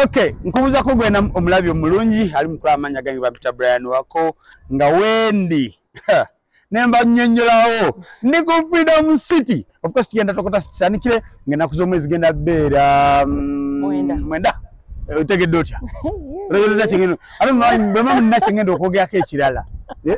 Okay, nkubuza ko gwena omulabi omulungi ali mukula amanya gange bampita Brian wako nga wendi nemba nyonnyolawo ndi ku Freedom City of course tugenda tokota sanikire ngenda kuzo mwezi genda beera mm, mwenda mwenda eh, otegedde otya otegedde otya kingendo ate bwemba munina kingendo okwogerako ekirala eh?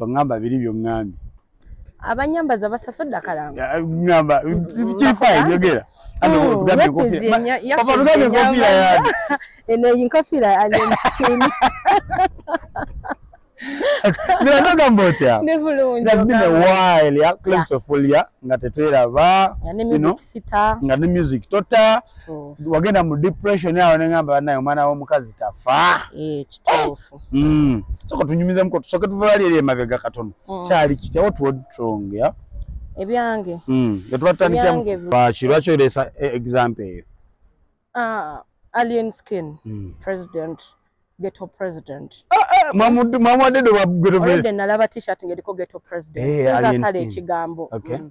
tongamba biri byongambye abanyambaza basasodde akalangoamba kirifaeyogera nagamba otyaofulia nga tetweraba nga ne music tota wagenda mu depression awo nengamba banaye omwana womukazi tafa eh, eh, people mm soka tunyumiza mko soka tuvali ile mabega katono mm. chali kite what would strong ya ebyange mm yatubata ni kya ba chiracho ile sa e, example hiyo ah alien skin mm. president ghetto president ah, ah, mamudu mamudu wa ghetto president nalaba t-shirt ngeliko ghetto president hey, eh, sasa sale chigambo okay. mm.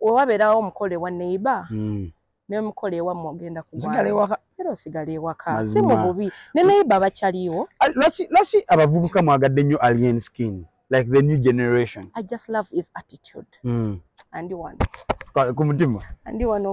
wewabeerawo omukolo ewa neiba hmm. nemukolo ewamu ogenda kuera osigala ewaka si mu bubi ne neiba bakyaliwo lwaki abavubuka mwagadde nnyo alien skin like the new generation i just love his attitude mm. andi wano kumutima andi wano